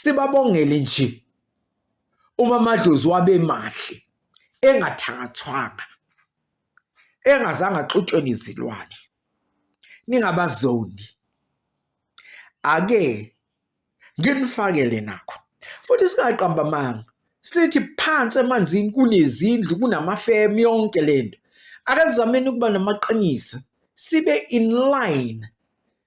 Sibabongele nje uma amadlozi wabemahle engathakathwanga engazange axutshwe nezilwane ningabazondi ake nginifakele nakho futhi singaqamba amanga sithi phansi emanzini kunezindlu kunamafemu yonke lento akazameni ukuba namaqiniso sibe in line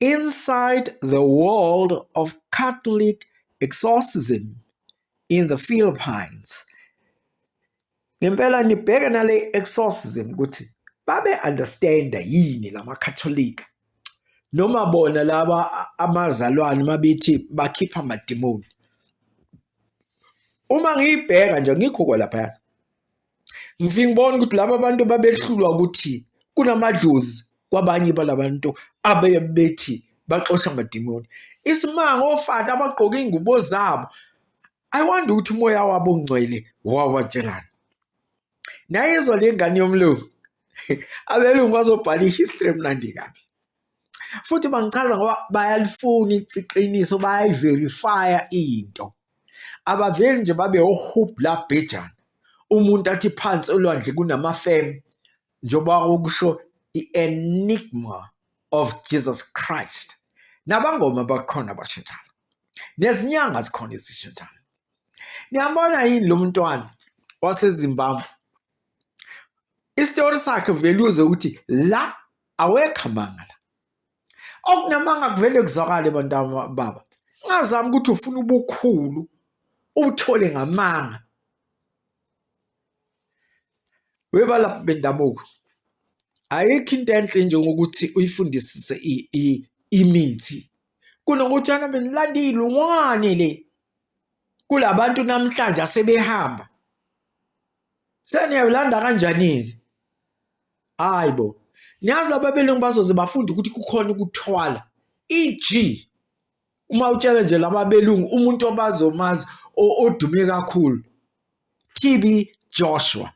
Inside the World of Catholic Exorcism in the Philippines. Ngempela nibheke nale exorcism ukuthi babe understand yini lamaKatholika noma bona laba amazalwane mabethi bakhipha amadimoni uma ngiyibheka nje ngikhuko lapha ngifike ngibona ukuthi laba bantu babehlulwa ukuthi kunamadlozi kwabanye balabantu abeye bethi baxosha amadimoni isimanga ofata abagqoke ingubo zabo i wonder ukuthi umoya wabo ongcwele wawatshelana nayizwa le ngane yomlungu abelungu bazobhala i-history emnandi kabi futhi bangichaza ngoba bayalifuna iqiniso bayayiverifya into abaveli nje babe ohub la bhejana umuntu athi phansi olwandle kunamafem njengoba okusho i-enigma of jesus christ nabangoma bakhona bashintshana nezinyanga zikhona ezishintshana niyambona yini lo mntwana wasezimbabwe isitori sakhe vele uze ukuthi la awekho amanga la okunamanga kuvele kuzwakale bantwana baba ngazama ukuthi ufuna ubukhulu uthole ngamanga webalaphi bendabuko ayikho into enhle njengokuthi uyifundisise imithi kunokuthi ana benilanda iy'lungwane le kula bantu namhlanje asebehamba seniyawulanda kanjani-ke hayi bo niyazi laba belungu bazoze bafunde ukuthi kukhona ukuthwala eg uma utshela nje laba belungu umuntu obazomazi odume kakhulu TB Joshua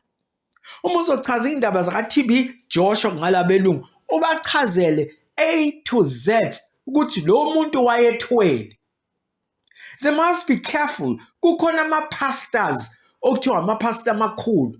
uma uzochaza indaba zaka TB Joshua ngalabelungu ubachazele A to Z ukuthi lo muntu wayethwele they must be careful kukhona ama pastors okuthiwa ama pastor amakhulu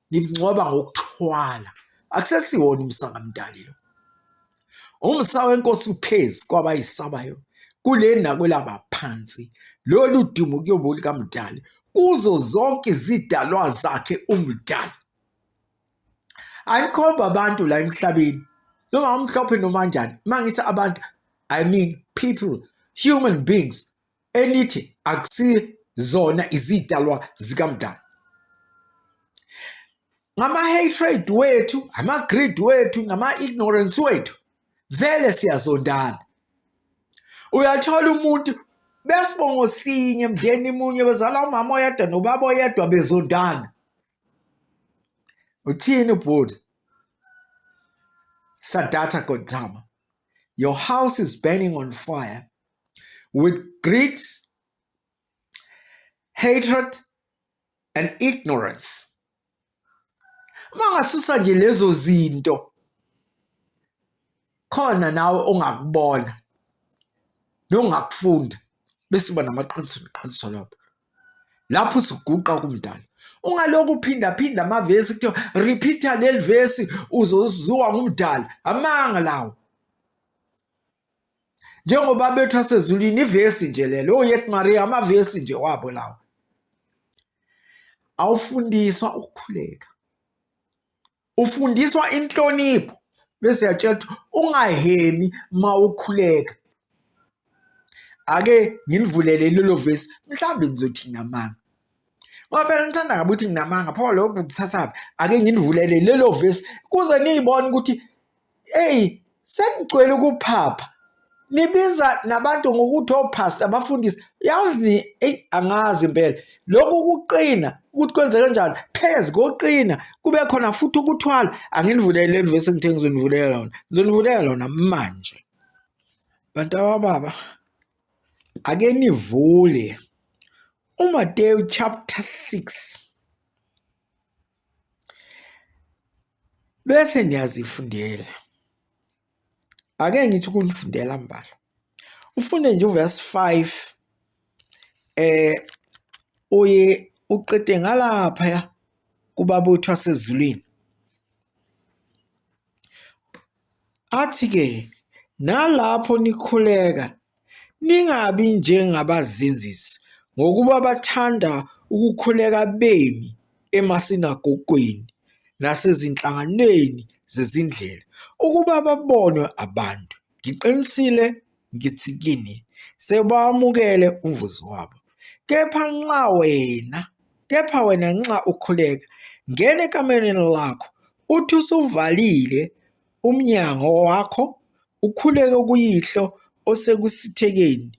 nimngcwaba ngokuthwala akusesiwona umsa kamdali lo umsa wenkosi uphezi kwabayisabayo kule nakwelaba phansi lolu dumo kuyobe lukamdali kuzo zonke izidalwa zakhe umdali ayikhomba abantu la emhlabeni noma umhlophe noma njani uma ngithi abantu i mean people human beings elithi akusizona izidalwa zikamdali ngama-hatred wethu ama-greed wethu nama-ignorance wethu vele siyazondana uyathola umuntu besibongo sinye mndeni munye bezala umama oyedwa nobaba oyedwa bezondana uthini bhuti sadatha godama your house is burning on fire with greed, hatred and ignorance. Mangasusa nje lezo zinto khona nawe ongakubona nongakufunda bese uba namaqiniso neqiniso lapho lapho usuguqa kumdala ungaloku uphindaphinda amavesi kuthiwa repeater leli vesi uzoziwa ngumdala amanga lawo njengoba bethu asezulwini ivesi nje lelo oyet oh, maria amavesi nje wabo lawo awufundiswa ukukhuleka ufundiswa inhlonipho bese yatshela ukuthi ungahemi ma ukhuleka ake nginivulele lelo vesi mhlawumbe nizothina manga ngoba phela ngithanda ngabe ukuthi nginamanga pho lokho kuthathaphi ake nginivulele lelo vesi kuze niyibone ukuthi eyi sekugcwele ukuphapha nibiza nabantu ngokuthi ophastor oh, abafundisi yazi ni eyi angazi impela lokhu kuqina ukuthi kwenze kanjani phezu koqina kube khona futhi ukuthwala anginivulele leli vesi ngithe ngizonivulela lona ngizonivulela lona manje bantu abababa ake nivule uMateyu chapter 6 bese niyazifundela ake ngithi ukulifundela mbala ufunde nje uverse 5 eh uye uqede ngalapha ya kubabutho asezulwini athi ke nalapho nikhuleka Ningabi njengabazenzisi, ngokuba bathanda ukukhuleka bemi emasinagogweni nasezinhlanganweni zezindlela, ukuba babonwe abantu. Ngiqinisile ngithi kini, Sebawamukele umvuzo wabo. Kepha nxa wena, kepha wena nxa ukhuleka, ngena ekamereni lakho, uthi usuvalile, umnyango wakho ukhuleke kuyihlo osekusithekeni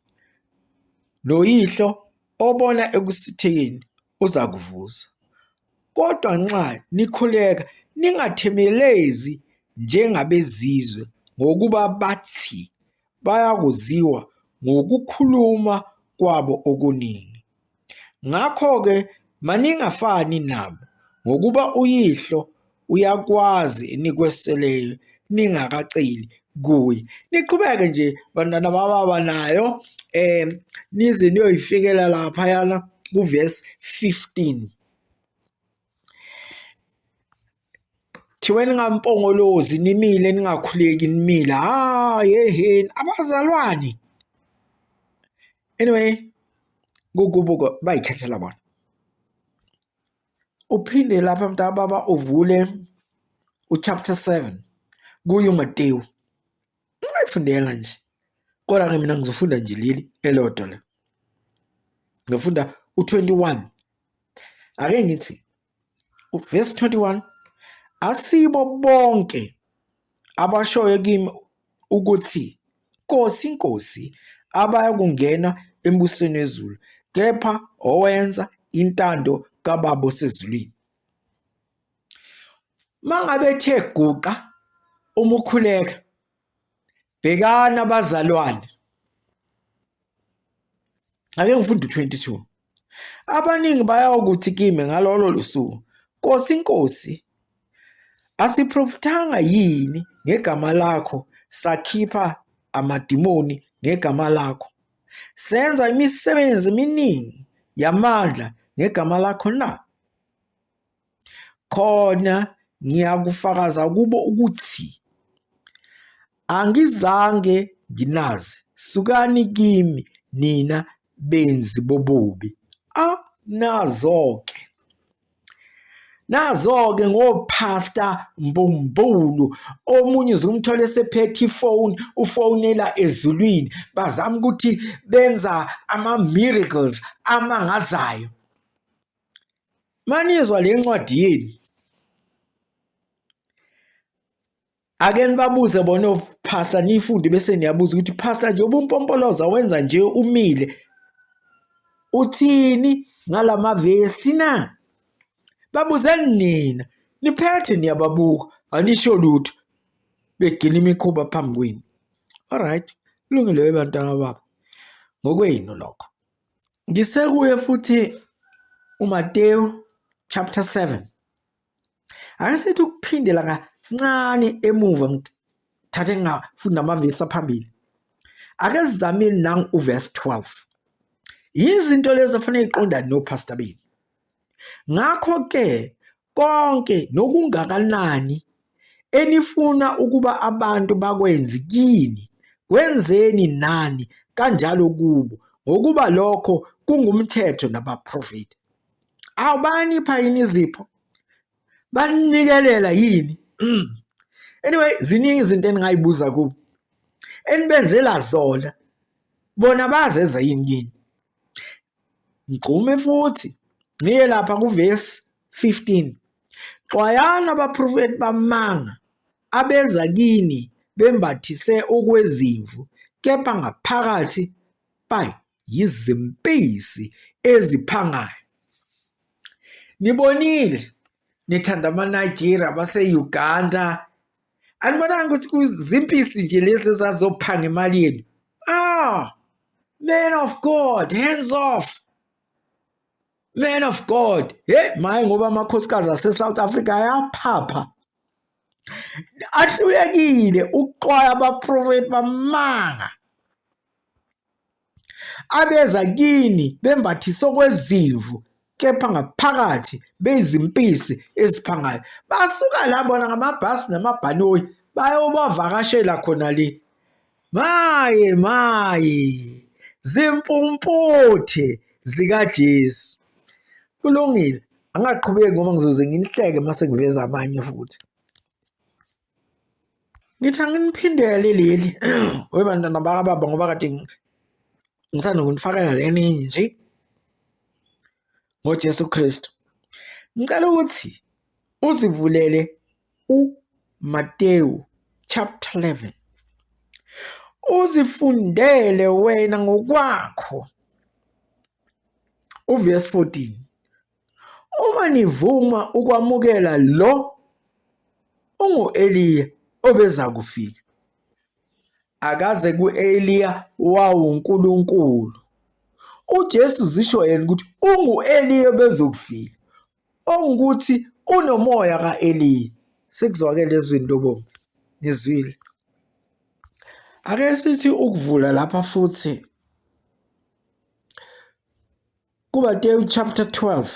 noyihlo obona ekusithekeni uzakuvuza. Kodwa nxa nikhuleka ningathemelezi njengabezizwe ngokuba bathi bayakuziwa ngokukhuluma kwabo okuningi. Ngakho-ke maningafani nabo, ngokuba uYihlo uyakwazi enikweseleyo ningakaceli kuye. Niqhubeke nje bantwana bababa nayo um nize niyoyifikela laphayana kuvesi 15. thiwe ningampongolozi nimile ningakhuleki nimile ha yeheni abazalwane anyway kugubuko bayikhethela bona uphinde lapha mntababa uvule uchapter 7 kuyo matewu Ungayifundela nje. Kodwa ke mina ngizofunda nje leli elodwa la. Ngifunda u21. Ake ngithi uverse 21 asibo bonke abashoyo kimi ukuthi Nkosi Nkosi abaya kungena embusweni wezulu kepha owenza intando kababa osezulwini. Uma ngabe ethe guqa uma ukhuleka, bhekani abazalwane. Ake ngifunde u-22. Abaningi bayakuthi kimi ngalolo lusuku, Nkosi, Nkosi, asiprofithanga yini ngegama lakho sakhipha amadimoni ngegama lakho senza imisebenzi eminingi yamandla ngegama lakho na? Khona ngiyakufakaza kubo ukuthi angizange nginazi, sukani kimi nina benzi bobubi. A, nazo-ke! Nazo-ke ngophasta mbumbulu, omunye uzumthola esephethe ifoni, ufonela ezulwini, bazama ukuthi benza ama-miracles amangazayo. manizwa le ncwadi yenu ake nibabuze bona ophasta niyifunde bese niyabuza ukuthi phasta nje ubumpompoloza wenza nje umile uthini ngalamavesi na babuzeni nina niphethe niyababuka anisho lutho begcina imikhuba phambi kwenu alright kulungile bantwana baba ngokwenu lokho Ngisekuye futhi uMateyu chapter 7. Ake sithi ukuphindela kancane emuva ngithathe ngafunda amavesi aphambili. Ake sizamile nangu uverse 12. Yizinto lezi afanele iqondane noPastor Bini. Ngakho-ke konke nokungakanani enifuna ukuba abantu bakwenzi kini, kwenzeni nani kanjalo kubo, ngokuba lokho kungumthetho nabaprofethi. Awu bayanipha yini izipho? Baninikelela yini? Anyway, ziningi izinto eningay'buza kubo, enibenzela zona, bona bayazenza yini kini? Ngigxume futhi ngiye lapha kuvesi 15, Xwayani abaprofethi bamanga abeza kini bembathise okwezimvu kepha ngaphakathi bayizimpisi eziphangayo. Nibonile, nithanda amaNigeria, base-Uganda, anibonanga ukuthi kuzimpisi nje lezi ezazophanga imali yenu ah man of god hands off man of god he maye ngoba amakhosikazi ase-south africa ayaphapha ahlulekile ukuxwaya abaprofethi bamanga Abeza kini bembathise okwezimvu kepha ngaphakathi beyizimpisi eziphangayo. Basuka la bona ngamabhasi namabhanoyi bayobavakashela khona le. Maye maye zimpumputhe zikaJesu. Kulungile angaqhubeki ngoba ngizoze nginihleke mase ngiveza amanye futhi. Ngithi anginiphindele leli we bantwana bakababa ngoba kade ngisanda kunifakela leningi nje ngoJesu Kristu. Ngicela ukuthi uzivulele uMatewu chapter 11 uzifundele wena ngokwakho uverse 14 Uma nivuma ukwamukela lo ungu-Eliya obeza kufika. Akaze ku-Eliya wawuNkulunkulu. UJesu zisho yena ukuthi ungu-Eliya obezokufika, ongukuthi unomoya ka-Eliya. Sikuzwakele ezwini lobomu, nizwile. Ake sithi ukuvula lapha futhi KuMateyu chapter 12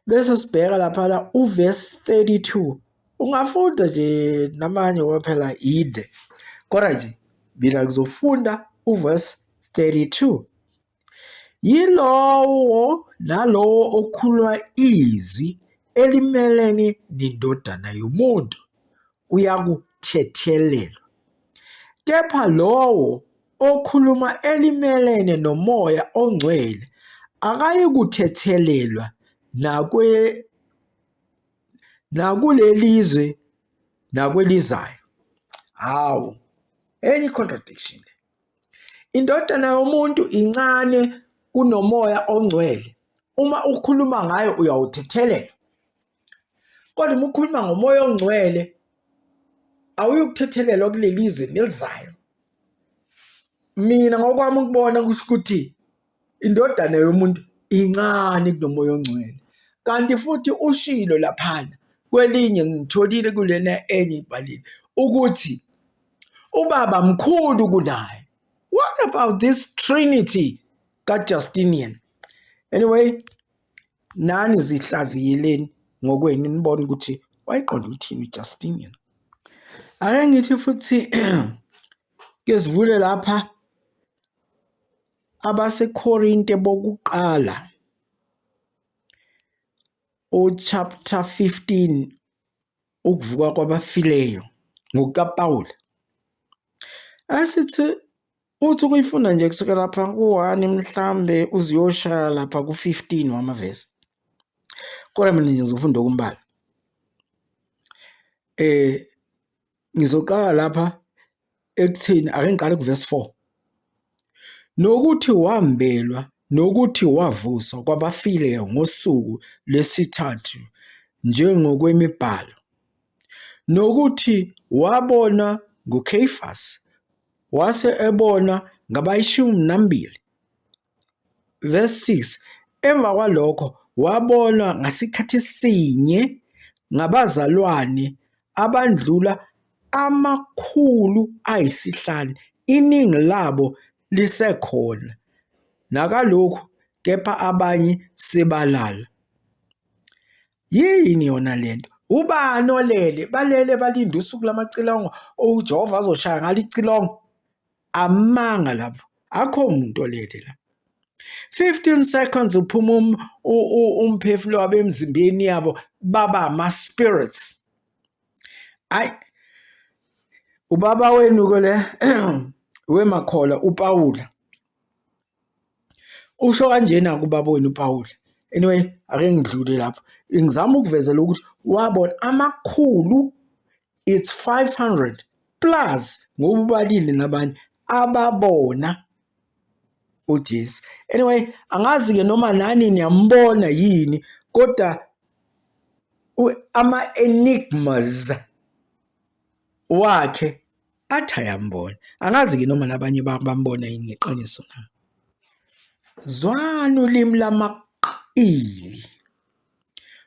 bese sibheka laphana uverse 32 ungafunda nje namanye ngoba phela yinde kodwa nje mina ngizofunda uverse 32 yilowo nalowo okhuluma izwi elimelene nendodana yomuntu uyakuthethelelwa. Kepha lowo okhuluma elimelene nomoya ongcwele akayikuthethelelwa nakwe nakulelizwe nakwelizayo. Hawu, enye contradiction le. Indodana yomuntu incane kunomoya ongcwele. Uma ukhuluma ngayo uyawuthethelela. kodwa uma ukhuluma ngomoya ongcwele awuyukuthethelelwa kuleli zwe nelizayo mina ngokwami ukubona kusho ukuthi indodana yomuntu incane kunomoya ongcwele kanti futhi ushilo laphana kwelinye ngitholile kulena enye ibhalile ukuthi ubaba mkhulu kunaye what about this trinity kajustinian anyway Nani zihlaziyeleni ngokwenu nibone ukuthi wayiqonda ukuthini uJustin yena. Ake ngithi futhi ke sivule lapha abaseKorinte bokuqala uchapter 15 ukuvuka kwabafileyo ngokukaPawula asithi Uthi ukuyifunda nje kusuke lapha ku-one mhlawumbe uze uyoshaya lapha ku-fifteen wamavesi kodwa mina nje ngizofunda okumbala eh ngizoqala lapha ekuthini ake ngiqale kuvesi four nokuthi wambelwa nokuthi wavuswa kwabafileyo ngosuku lwesithathu njengokwemibhalo nokuthi wabona nguKheyifasi Wase ebona ngabayishumi nambili, verse 6, Emva kwalokho wabonwa ngasikhathi sinye ngabazalwane abandlula amakhulu ayisihlanu, iningi labo lisekhona nakalokhu kepha abanye sebalala. Yini yona le nto? Ubani olele? Balele balinde usuku lamacilongo uJehova azoshaya ngalo icilongo? Amanga lapho, akho muntu olele la. 15 seconds uphuma um, umphefumulo wabo emzimbeni yabo baba ama-spirits. Ayi, ubaba wenu-ke le wemakhola upawula Usho kanjena kubaba wenu uPawulu. Anyway, ake ngidlule lapho. Ngizama ukuvezela ukuthi wabona amakhulu it's 500 plus ngoba ubalile nabanye ababona uJesu. Anyway, angazi ke noma nani niyambona yini kodwa ama enigmas wakhe athi ayambona angazi ke noma nabanye bambona yini ngeqiniso na zwani ulimi lamaqili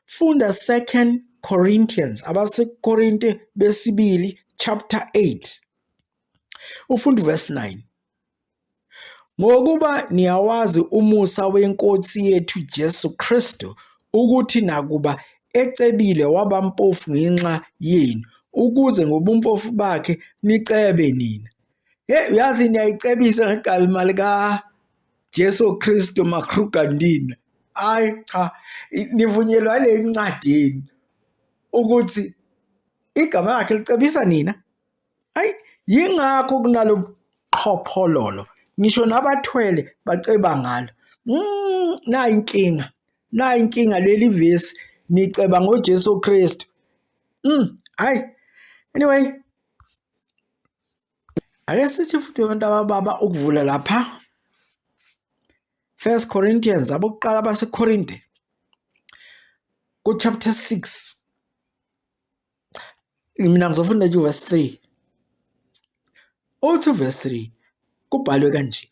funda second corinthians abasekorinte besibili chapter 8 ufunda verse 9 Ngokuba niyawazi umusa weNkosi yethu Jesu Kristu, ukuthi nakuba ecebile waba mpofu ngenxa yenu, ukuze ngobumpofu bakhe nicebe nina. Hey, uyazi niyayicebisa ngegalima lika Jesu Kristu makrugandina. Hayi cha, nivunyelwa le ncwadini ukuthi igama lakhe licebisa nina. ayi yingakho kunalobuqhophololo ngisho nabathwele baceba ngalo mm, nayi inkinga nayi inkinga leli vesi niceba ngoJesu Kristu mm hayi anyway ake sithi futhi abantu abababa ukuvula lapha First Corinthians abokuqala baseKorinte ku chapter 6 mina ngizofunda nje verse 3 uthi verse 3 kubhalwe kanje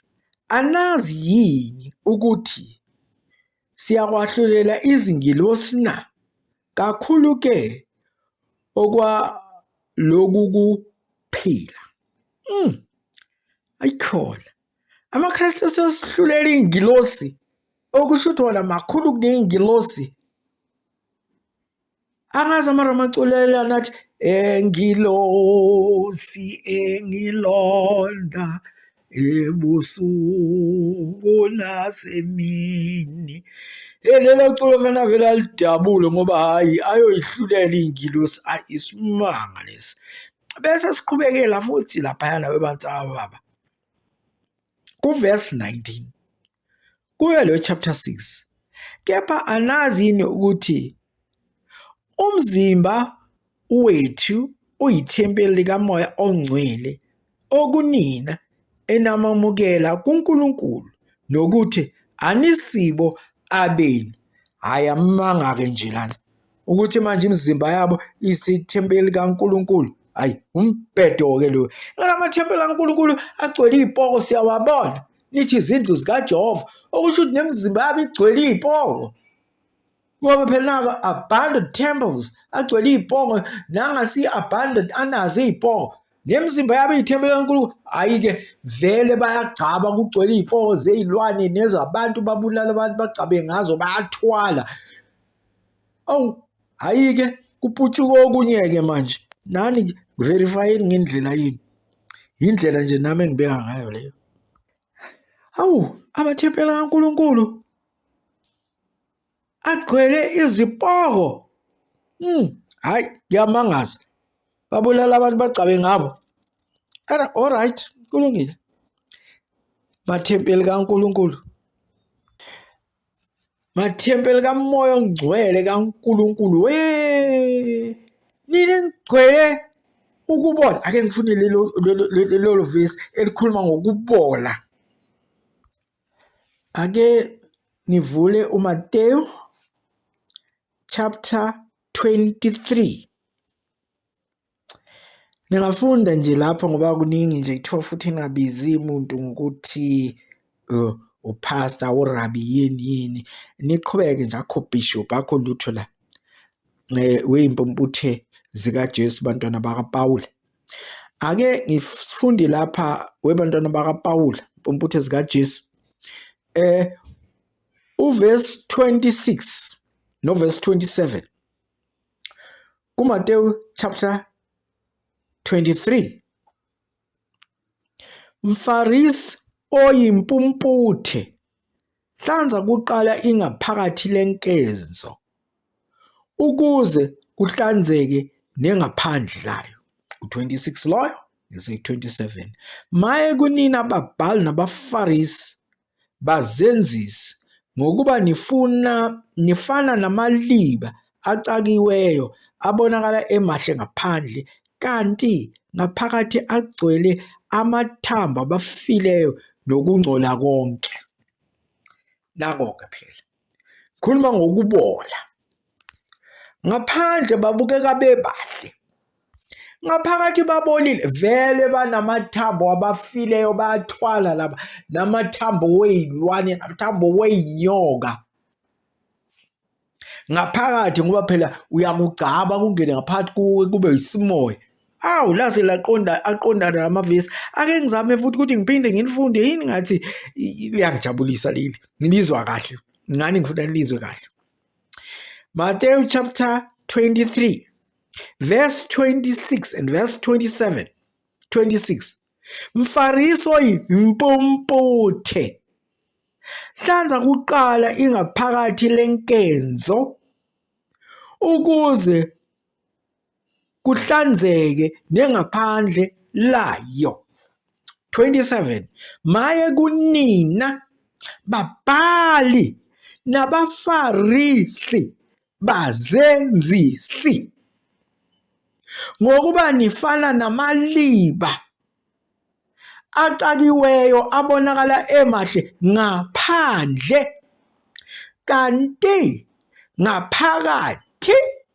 anazi yini ukuthi siyakwahlulela izingilosi na kakhulu ke okwa lokhu kuphila mm ayikhona amaKristu asesihlulela ingilosi okusho ukuthi wona makhulu kunengilosi angazi amaramaculela nathi engilosi engilonda ebusuku nasemini hey lelo culo fana vele alidabule ngoba hhayi ayoyihlulela iy'ngilosi ayi isimanga lesi bese siqhubekela futhi laphayana bebantu ababa kuvesi 19 kuyo leyo chapter 6 kepha anazi yini ukuthi umzimba wethu uyithempeli likamoya ongcwele okunina enamamukela kuNkulunkulu nokuthi anisibo abenu hhayi amanga-ke nje lana ukuthi manje imizimba yabo isithempeli kaNkulunkulu hayi umbhedo-ke loyo ngala mathempeli kaNkulunkulu agcwele iy'poko siyawabona nithi izindlu zikajehova okusho ukuthi nemizimba yabo igcwele iy'poko ngoba phela nako abandoned temples agcwele iy'poko nangasi-abandoned anazo iy'poko nemizimba yabo iy'thempeli kaNkulunkulu hhayi-ke vele bayagcaba kugcwele iy'poko zey'lwane nezabantu babulala abantu bagcabe ngazo bayathwala Awu, hhayi-ke kuputshuke okunye-ke manje. Nani verifayeni ngendlela yini. Yindlela nje nami engibeka ngayo leyo. Awu, amathempela kaNkulunkulu agcwele izipoko. Hmm, hhayi ngiyamangaza. Babulala abantu bagcabe ngabo. Era all right, kulungile. Mathempeli kaNkulunkulu. mathempeli kamoya ongcwele kaNkulunkulu we nini ngigcwele ukubola ake ngifune lelo lelo verse elikhuluma ngokubola ake ngivule uMateyu chapter 23 Ngingafunda nje lapho ngoba kuningi nje kuthiwa futhi ingabizi muntu ngokuthi uphasta urabi yini yini niqhubeke nje akho bishop akho lutho la weyimpumputhe zikaJesu bantwana bakaPawula. Ake ngifunde lapha webantwana bakaPawula impumputhe zikaJesu eh uverse 26 noverse 27 KuMatewu chapter 23 Mfarisi oyimpumputhe hlanza kuqala ingaphakathi lenkezo ukuze kuhlanzeke nengaphandle layo u-26 loyo ngese-27 maye kunina babhali nabafarisi bazenzisi ngokuba nifuna nifana namaliba acakiweyo abonakala emahle ngaphandle kanti ngaphakathi agcwele amathambo abafileyo nokungcola konke. Nako-ke phela khuluma ngokubola ngaphandle babukeka bebahle ngaphakathi babolile vele banamathambo abafileyo bayathwala laba namathambo weyilwane namathambo weyinyoka ngaphakathi ngoba phela uyakugcaba kungene ngaphakathi kuwe kube yisimoya awu lase laqonda aqondana amavesi ake ngizame futhi ukuthi ngiphinde ngilifunde yini ngathi liyangijabulisa leli ngilizwa kahle ngani ngifuna nilizwe kahle Matthew chapter 23 verse 26 and verse 27 26 Mfarisi oyimpumputhe hlanza kuqala ingaphakathi lenkenzo ukuze kuhlanzeke nengaphandle layo. 27 maye kunina babhali nabafarisi bazenzisi ngokuba nifana namaliba acakiweyo abonakala emahle ngaphandle kanti ngaphakathi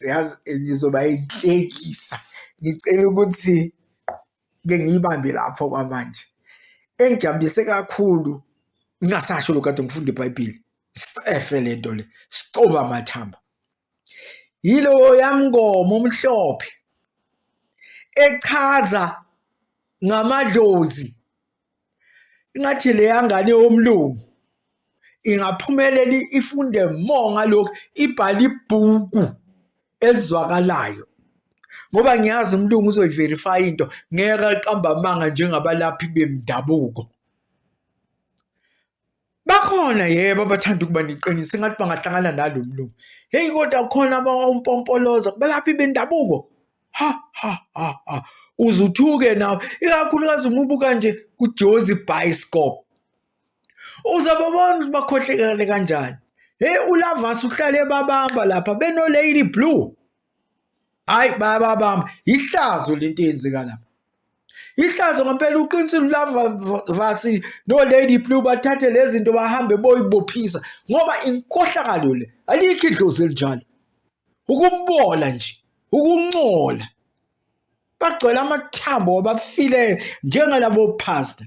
yazi ngizoba inhlekisa ngicela ukuthi ke ngiyibambe lapho kwamanje engijabulise kakhulu ngingasasho lo kade ngifunda ibhayibheli sicefe le nto le sicoba amathamba yilowo yamngoma omhlophe echaza ngamadlozi ingathi leya ngane yomlungu ingaphumelela ifunde more ngalokhu ibhala ibhuku elizwakalayo ngoba ngiyazi umlungu uzoyiverifya into ngeke aqamba amanga njengabalaphi bemdabuko Bakhona yebo abathanda ukuba neqiniso engathi bangahlangana nalo mlungu. Heyi kodwa khona abawumpompoloza belaphi bendabuko. Ha ha ha ha. Uzuthuke nawe ikakhulukazi uma ubuka nje kuJozi Bioscope. Uzababona ukuthi bakhohlekele kanjani. Heyi uLavas uhlale babamba lapha beno Lady Blue. hayi bayababamba yihlazo lento eyenzeka lapha ihlazo ngempela uqinisile ulavasi no-lady blue bathathe lezi zinto bahambe boyibophisa ngoba inkohlakalo le alikho idlozi elinjalo ukubola nje ukuncola bagcwele amathambo wabafile njengalabo phasta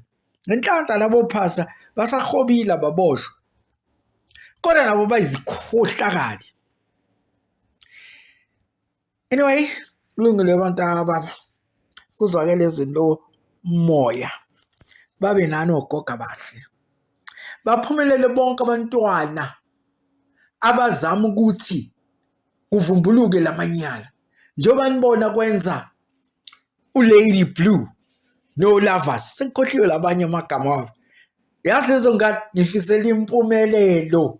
ngenhlanhla labo phasta basahobile baboshwa kodwa nabo bayizikhohlakali anyway kulungile abantu ababa kuzwakele izinto moya babe nani ogoga bahle baphumelele bonke abantwana abazama ukuthi kuvumbuluke lamanyala njengoba nibona kwenza ulady blue nolavas sekukhohliwe labanye amagama wabo yazi lezo ngane ngifisela impumelelo